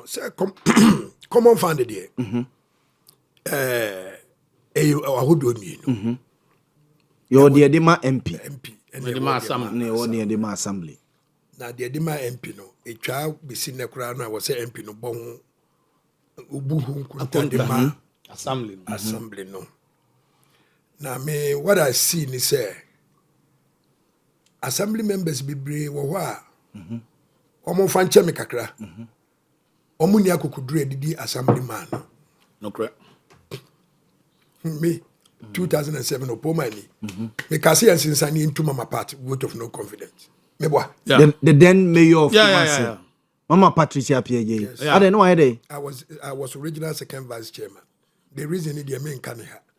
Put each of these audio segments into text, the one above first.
sɛ common fund deɛ mhm. ɛyɛ ahodoɔ mmienu mhm. yɛwɔ deɛ de ma mp ne deɛ de ma assembly na deɛ de ma mp no ɛtwa bɛsi nnɛ koraa no a wɔ sɛ mp no bɔ ho wobu ho nkonta de ma mhm. assembly no na me what i see ni sɛ assembly members bebree wɔ hɔ a wɔn mfa nkyɛ me kakra wɔn nni akokoduro a ɛdidi assembly man no me 2007 ɔpɔ ma ni meka sɛ yɛnsensane yɛntu mama part vote of no confidence meboa yeah. the, the then mayor of yeah, yeah, yeah, yeah. mama patricia piaye yes. yeah. adɛ ne wayɛ dɛ I was, I was original second vice chairman the reason is the main ha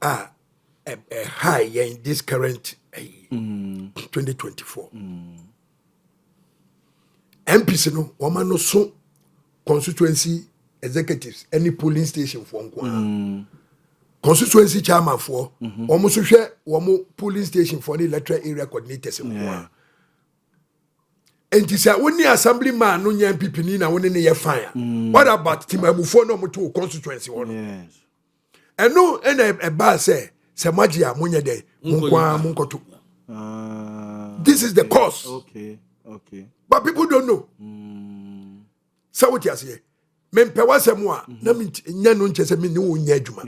a ɛhae yɛn this current ayi mm. 2024 mm. mpc no wɔma no so constituency executives any polling station foɔ nko ara mm. constituency chairman foɔ wɔn nso hwɛ wɔn polling station foɔ ne electoral area coordinators nko ara nti sɛ wo ne assembly man no nya mpipini na wo ne ne yɛ fan a mm. what about timamufoɔ na ɔmoto wo constituency hɔ no ɛno ɛna ɛbaa sɛ sɛ moagye a monyɛ dɛn monkoaa monkɔto ah, this is the cause okay. Okay. but people don't know mm. sɛ wote aseɛ mempɛ w'asɛm a mhm. na menyɛ no nkyɛ sɛ mene wo nyɛ adwuma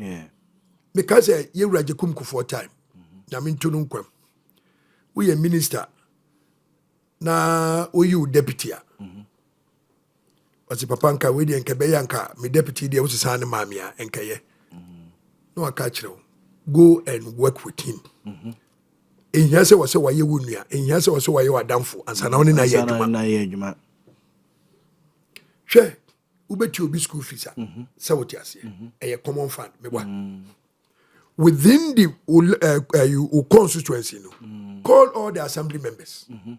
meka sɛ yɛwura gye kum kofoɔ time mhm. nyame nto no nkwam woyɛ minister na woyi wo deputy a mhm. ɔse papa nka wei deɛ nka bɛyɛ nka me deputy deɛ wosesa ne maame a nkɛyɛ na waka kyerɛ wo go and work with him mm -hmm ehia sɛ wɔsɛ wɔayɛ wo nua ehia sɛ wɔsɛ wɔayɛ w'adamfo ansa na wɔne na yɛ adwuma hwɛ wobɛtua obi school fees a mhm. sɛ wote aseɛ mhm. ɛyɛ common fund meboa mm. within the eh, eh, wo constituency no mm. call all the assembly members mhm.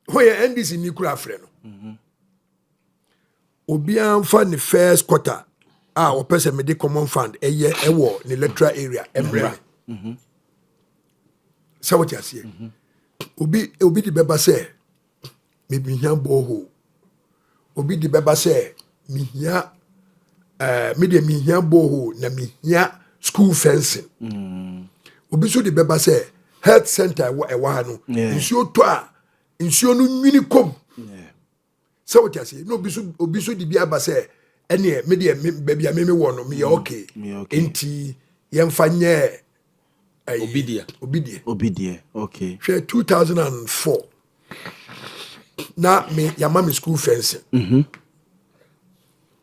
ho yɛ ndc ni kura afrɛ no obiara mfa ne first quarter a ɔpɛ sɛ mede common fund ɛyɛ ɛwɔ ne electoral area ɛmmerɛ me sɛ wote aseɛ obi obi de bɛba sɛ mebehia borehole. Obi de bɛba sɛ mehia ɛɛ eh, me deɛ mehia borehole na mehia school fencing. Mm. Obi nso de bɛba sɛ health center ɛwɔ ɛwɔ ha no nsuo tɔ a nsuo no nwini kɔm sɛ wote ase na obi so obi so de bi aba sɛ ɛneɛ me deɛ baabi a meme wɔ no meyɛ mm, okay nti yɛmfa nyɛ ɛyi obi deɛ obi deɛ obi deɛ okay hwɛ 2004 na me yama me school fencing mm -hmm.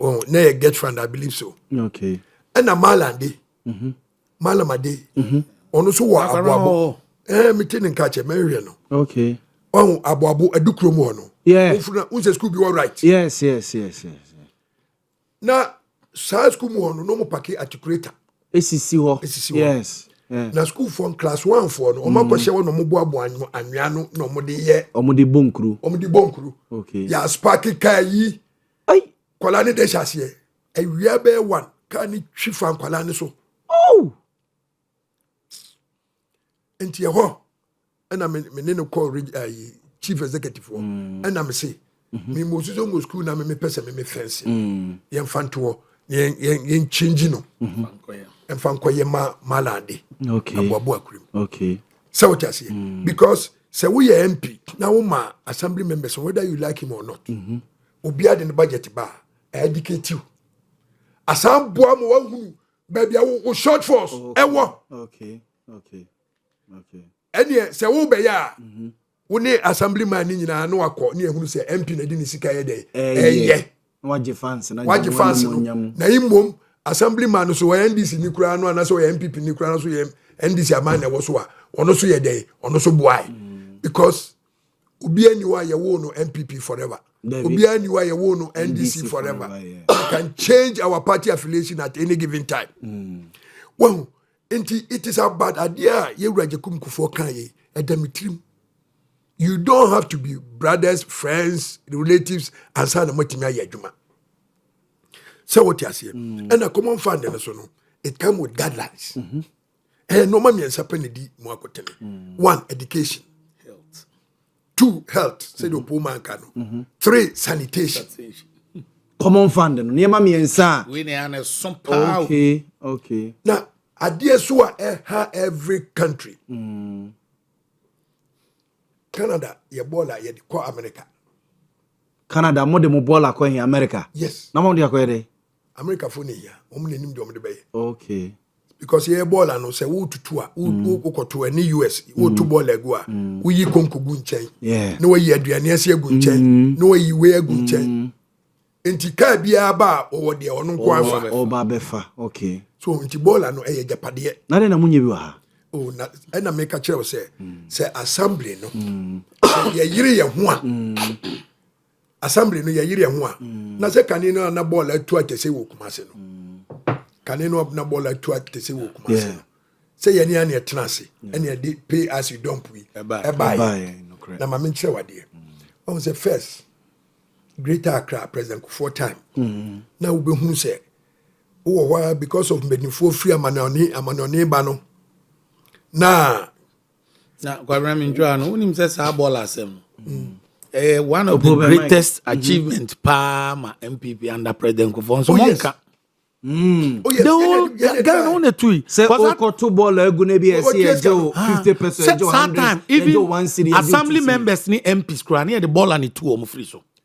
oh, na yɛ get fund i believe so okay ɛna malande mm -hmm. malamade mm -hmm. ɔno nso wɔ aboabo ɛɛ mete ne nka kyɛ mɛhwɛ no okay ɔho aboabo adukuro mu hɔ no wofuna wosɛ school bi wɔ right yes yes yes yes na saa sukuu mu hɔ no na ɔmo paki atikuleta. esisi hɔ esisi hɔ yes na sukuufoɔ no class one foɔ no ɔmo mm. akɔhyɛ hɔ na ɔmo boaboa anwea no na ɔmo de yɛ. ɔmo de bɔ nkuru. ɔmo de bɔ nkuru. okay yɛ aspaaki kaa yi. ayi kɔla ne de hyɛ aseɛ awia bɛyɛ one kaa ne twi fa nkɔla ne so. oh. nti ɛhɔ ɛna me ne no kɔɔ ayi chief executive hɔ mm. ɛna me se mm-hmm. memmɔ suso mmɔ sukuu na memepɛ sɛ meme fɛnse mm. yɛmfa ntoɔ yɛnkyɛngyi no mm-hmm. mfa nkɔyɛ ma malade aboaboa kurom sɛ wote aseɛ mm. because sɛ woyɛ mp na woma assembly members whether you like him or not mm-hmm. obiara de ne budget ba a ɛdicatiw asan boa ma wahunu baabi a wo short force ɛwɔ ɛneɛ sɛ wobɛyɛ a mhm. wo ne assembly man ne nyinaa na wakɔ ne ahunu sɛ mp na de ne sika yɛ dɛn ɛyɛ wagye fans no na mmom assembly man no so ɔyɛ ndc ni koraa no anaasɛ ɔyɛ mpp ni koraa no so yɛ ndc aman na ɛwɔ so a ɔno so yɛ dɛn ɔno so boae mm. because obiara ni hɔ a yɛwoo no npp forever obiara ni hɔ a yɛwoo no ndc forever we can change our party affiliation at any given time mm. wahu nti it is about adeɛ a yɛwura gyakum kufoɔ kan yɛ ɛda me tirim you don't have to be brothers friends relatives ansa na moatumi ayɛ adwuma sɛ wote aseɛ ɛna mm. common fund no so no it come with guidelines mm -hmm. ɛyɛ nneɛma mmiɛnsa pɛ na di mu akotene mm. one education two health sɛdeɛ mm-hmm. ɔpoo ma nka no mm-hmm. three sanitation common fund no nneɛma mmiɛnsa a wei na ɛyɛ na ɛso paa okay okay na adeɛ so a ɛha every country mm. canada yɛ bɔɔl a yɛde kɔ america canada mo de mo bɔɔl akɔ he america yes na mo de akɔ yɛ dɛ America fo ne hia wɔn na nim deɛ wɔn de bɛyɛ. Okay. Because yɛyɛ bɔɔl ano sɛ wotutu a wokɔto mm. ɛne US wotu mm. bɔɔl agu a mm. woyi konko gu nkyɛn na wayi aduane ase agu nkyɛn na wayi wei agu nkyɛn nti kaa biara ba a wɔwɔ deɛ ɔno nko afa ɔba bɛfa okay so nti bɔɔl ano ɛyɛ gyapadeɛ na dɛ na mo nyɛ bi wɔ ha o na ɛna meka kyerɛ wo sɛ sɛ assembly no sɛ yɛyere yɛ ho a assembly no yɛyere ho a mm. na sɛ kane no a na bɔɔl atu akɛse wɔ kuma ase no mm. kane no na bɔɔl atu akɛse wɔ kuma ase no sɛ yɛne aneɛ tena ase ɛne ɛde pay as you dump yi ɛbaeɛ na ma menkyerɛ wadeɛ mm. ɔhu sɛ first greater accra president kofoɔ time na wobɛhunu sɛ wowɔ hɔ a because of mpanimfoɔ firi amanɔne amanɔne ba no na na kwabena mi ntwa no wonim sɛ saa bɔɔl asɛm no mm. ɛyɛ eh, one of the greatest mm-hmm. achievement paa ma mpp under president nkofo nso oh, mo nka Mm. Oh, yes. The whole Ghana no na tui. Sɛ ɔkɔto bɔɔl agu na ebi ɛsi ɛgye o fifty percent ɛgye o hundred ɛgye o one city ɛgye o two city. Assembly members ni MPs kura ni yɛ de bɔɔl ani tu wɔn firi so.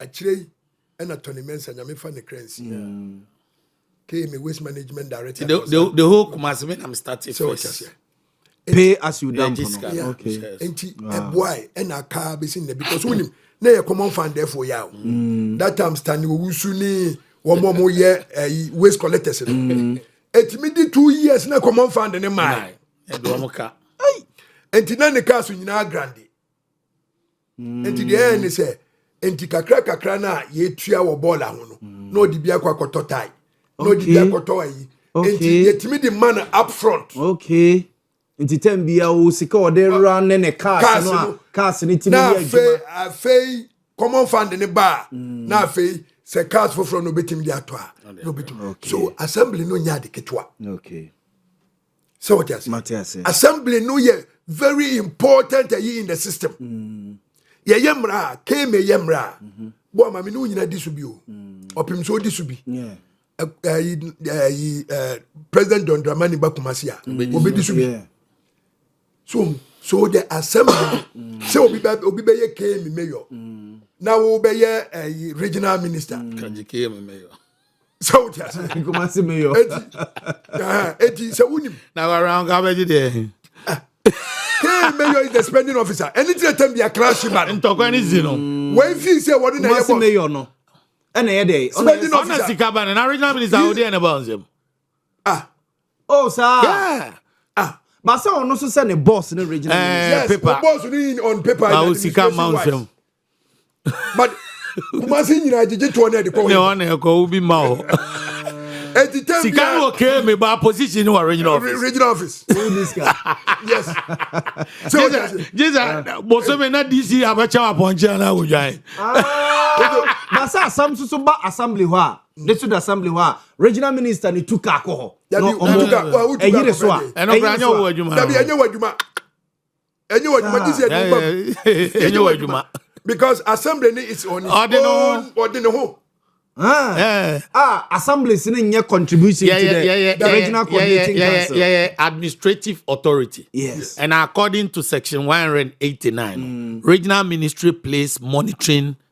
Akyire yi na Tony Mensah nyame fa ne kra nsi. Mm. Kay me waste management director. The, the, the whole Kumasi me nam start it first. Pay as you dump no. Okay. Enti eboy e na ka be sin na because wonim na ye common fan therefore ya. Mm. That time Stanley Owusu ni wɔn mo mo yɛ ɛyi waste collectors no. Mm. Etimi di two years na common fan ne maa. Ɛdi wɔn ka. Enti na ne kaa so nyinaa grandi. Enti deɛ ɛyɛ ne sɛ enti kakra kakra no a yɛtua wɔ bɔɔl aho no mm. na ɔde bi akɔ akɔtɔ tae na ɔde bi akɔtɔ ayi enti yɛtumi de ma no up front okay nti tɛm bia wo sika ɔde ra ne ne cars no a cars no tumi yɛ adwuma na afei common fund ne ba a mm. na afei sɛ cars foforɔ no obɛtumi de atɔ a na obɛtumi so assembly no nyɛ ade ketewa okay sɛ wɔte ase assembly no yɛ very important ɛyi in the system mm. yɛyɛ mmara a kame yɛ mmara a mm-hmm. bɔ ama me ne wo nyina di so bi o mm. ɔpem sɛ ɔdi so bi ayi president john dramani ba kumase a ɔbɛdi so bi so so the assembly mm. sɛ obi bɛ obi bɛ yɛ kame mayor mm. na wo bɛ yɛ ɛyi regional minister mm. sɛ wote ase kumase meyɔ eti eti sɛ wonim na wawura nka bɛgye deɛ kee meyɔ is the spending officer ɛne tire tɛm bia kra hye ba no ntɔkwa ne si no wɔn fi sɛ wɔde na ɛyɛ bɔ meyɔ no ɛna ɛyɛ dɛ spending officer ɔna sika ba no na regional minister awo deɛ ne ba nsɛm ah oh saa yeah ah basa ɔno so sɛ ne boss ne regional eh, minister yes paper boss ne on paper na o sika ma nsɛm but kumase nyinaa gyegye toɔ no ɛde kɔ ne ɔne ɛkɔ wo bi ma hɔ ɛti tɛ bia sika no ɔkee me ba position no wɔ regional office regional office yes sɛ o jẹ se jẹ se bosome na dc abɛkyɛw apɔnkye ana wodwan na sɛ asam soso ba assembly hɔ a ne so da assembly hɔ a regional minister ne tu kaa kɔ hɔ ɛyere so a ɛyere so a dabi ɛnyɛ wɔ adwuma ɛnyɛ w'adwuma gye sɛ ɛde bam ɛnyɛ w'adwuma because assembly ne is on its own ɔde ne ho Ah, eh. ah, assemblies no nyɛ contribution yeah, to the, yeah, yeah, the yeah, regional coordinating yeah, yeah, council. Yeah, yeah, administrative authority. Yes. And according to section 189, mm. regional ministry plays monitoring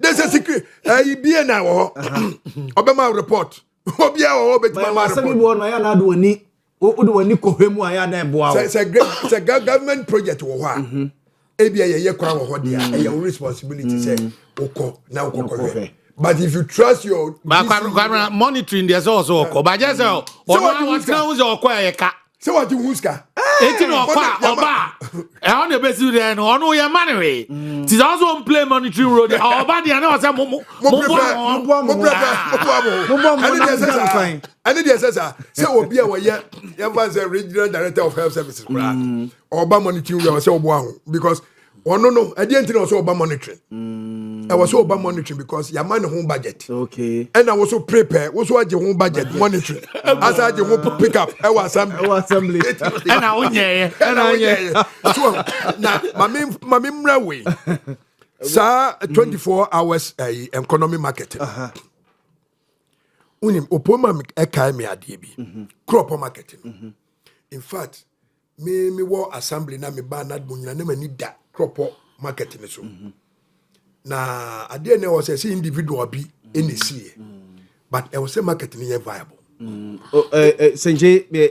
de sɛ secret ɛyi eh, bie na wɔ hɔ ɔbɛma report obiara wɔ hɔ ɔbɛtumi ama report. asɛm bi wɔ no ayɛ anaade wɔn ni wode wɔn ni kɔhwɛ mu ayɛ adan boa wɔ. sɛ sɛ government project wɔ hɔ a mm-hmm. ebi a yɛyɛ kwan wɔ hɔ deɛ mm-hmm. ɛyɛ wo responsibility sɛ mm-hmm. wokɔ na wokɔ kɔhwɛ but if you trust your. bakwara monitoring deɛ sɛ ɔsɛ ɔkɔ bàjẹ́ sɛ ɔno àwọn tí wọn sɛ ɔkɔ yɛ ká. sɛ wɔgye ho sika enti na ɔkɔ a ɔba a ɛhɔ na ɛbɛsi dɛn no ɔno yɛ ma no wee nti sɛ ɔsɛ ɔmplay monitoring role deɛ ɔba deɛ na ɔsɛ ɛne deɛ sɛ saa sɛ obi a wɔyɛ yɛmfa sɛ regional director of health services koraa ɔba monitoring role sɛ ɔboa ho because ɔno no ɛdeɛ nti na ɔsɛ ɔba monitoring mm. ɛwɔ sɛ ɔba monitoring because yɛama ne ho budget ɛna wo so prepare wo so agye ho budget monitoring asa agye ho pick up ɛwɔ assembly ɛna wonyɛɛ ɛna wonyɛɛ na mame mmra wei saa 24 hours ɛyi eh, economy market wonim opoma ɛkae me adeɛ bi mhm. crop market no mhm. in fact Me me wɔ assembly na me ba na mo nyina na m'ani da Kropɔ market no so. Mm -hmm. Na adeɛ na ɛwɔ sɛ sɛ individual bi ɛna ɛsiiɛ. Mm -hmm. But ɛwɔ sɛ market no yɛ viable. Mm -hmm. oh, uh, uh, Senje,